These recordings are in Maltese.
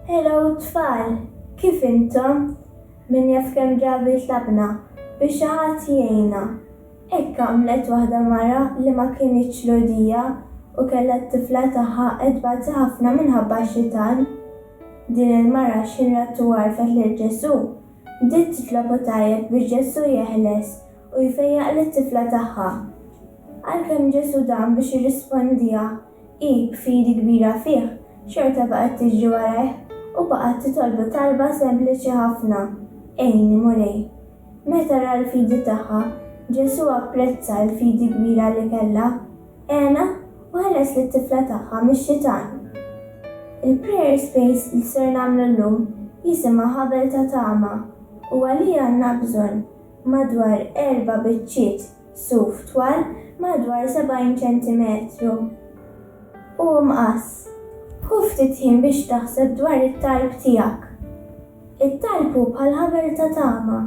Hello tfal, kif intom? Min jaf kemm drabi tlabna biex xi ħadd jgħinna. Hekk għamlet waħda mara li ma kinitx Lhudija u kellha t-tifla tagħha qed tbati ħafna minħabba x-xitan. Din il-mara x'inrat u għarfet lil Ġesù, bdiet titlob u tgħajjat biex Ġesù jeħles u jfejjaq lit-tifla tagħha. Għalkemm Ġesù dam biex jirrispondiha, Hi b'fidi kbira fih, xorta baqgħet tiġri warajh u baqgħet titolbu talba sempliċi ħafna, Għinni, Mulej. Meta ra l-fidi tagħha, Ġesù apprezza l-fidi kbira li kellha, għenha u ħeles lit-tifla tagħha mix-xitan. Il-Prayer Space li ser nagħmlu llum jisimha Ħabel ta' Tama u għalih għandna bżonn madwar erba' biċċiet suf twal madwar 70 ċentimetru u mqass. Ħu ftit ħin biex taħseb dwar it-talb tiegħek. It-talb hu bħal ħabel ta' tama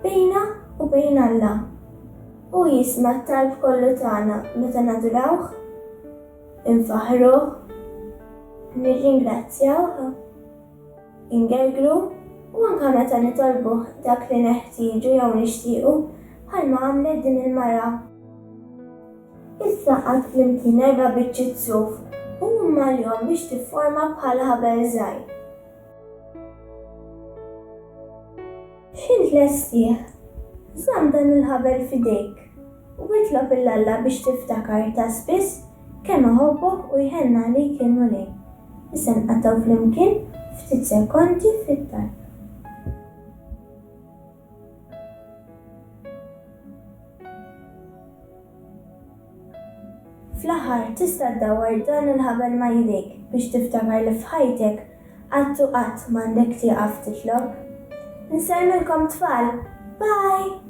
bejna u bejn Alla. Hu jisma' t-talb kollu tagħna meta nadurawh, infaħħruh, nirringrazzjawh. ingergru u anke meta nitolbuh dak li neħtieġu jew nixtiequ, bħalma għamlet din il-mara. Issa qgħadt flimkien erba' biċċiet suf u mmalhom biex tifforma bħal ħabel żgħir. X'int lestih? Żomm dan il-ħabel f'idejk. u itlob 'l Alla biex tiftakar ta' spiss kemm iħobbok u jħenn għalik il-Mulej. Issa nqattgħu flimkien ftit sekondi fit-talb. Fl-aħħar, tista' ddawwar dan il-ħabel ma' jdejk biex tiftakar li f'ħajtek qatt u qatt m'għandek tieqaf titlob. Insellmilkom tfal! Bye!